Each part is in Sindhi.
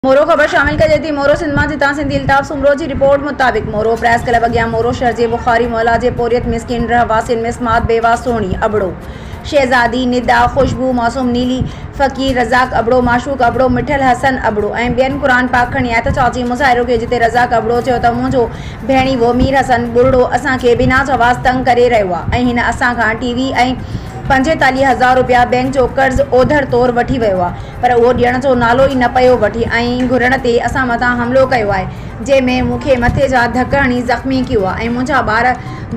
مورو خبر شامل ڪجي ٿي مورو سنڌ مان جتان سنڌي الطاف سومرو جي رپورٽ مطابق مورو پريس ڪلب اڳيان مورو شھر جي بخاري محلا جي پورھيت مسڪين رھواسين ۾ سماعت بيواه سھڻي ابڙو شھزادي ندا خوشبو معصوم نيلي فقير رزاق ابڙو معشوق ابڙو مٺل حسن ابڙو ۽ ٻين قرآن پاڪ کڻي آيا ته چاچي مظاھرو ڪيو جتي رزاق ابڙو چيو ته منھنجو ڀيڻيوو مير حسن ٻرڙو اسان کي بنا چواس تنگ ڪري رھيو آ ۽ ھن اسان کان ٽي وي ۽ پنجيتاليھ ھزار رپيا بينڪ جو قرض اوڌڙ طور وٺي ويو آ پر اهو ڏيڻ جو نالو ئي نه پيو وٺي ۽ گهرڻ تي اسان مٿان حملو ڪيو آهي جنهن ۾ مون کي مٿي جا ڌڪ هڻي زخمي ڪيو آهي ۽ منهنجا ٻار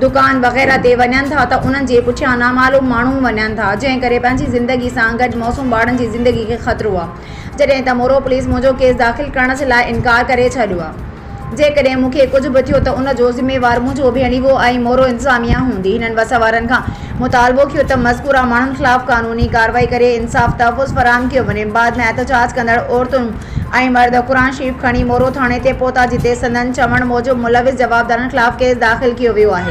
دڪان وغيره تي وڃن ٿا ته انهن جي پٺيان نامعلوم ماڻهو وڃن ٿا جنهن ڪري پنهنجي زندگي سان گڏ معصوم ٻارن جي زندگي کي خطرو آهي جڏهن ته مورو پوليس منهنجو ڪيس داخل ڪرڻ جي لاء انڪار ڪري ڇڏيو آهي. جيڪڏهن مون کي ڪجهه به ٿيو ته ان جو ذميوار منهنجو ڀيڻيوو ۽ مورو انتظاميه هوندي. هنن بس وارن کان مطالبو ڪيو ته مذڪوره ماڻهن خلاف قانوني ڪارروائي ڪري انصاف تحفظ فراهم ڪيو وڃي. بعد ۾ احتجاج ڪندڙ عورتون ۽ مرد قرآن شريف کڻي مورو ٿاڻي تي پهتا جتي سندن چوڻ موجب ملوث جوابدارن خلاف ڪيس داخل ڪيو ويو آهي.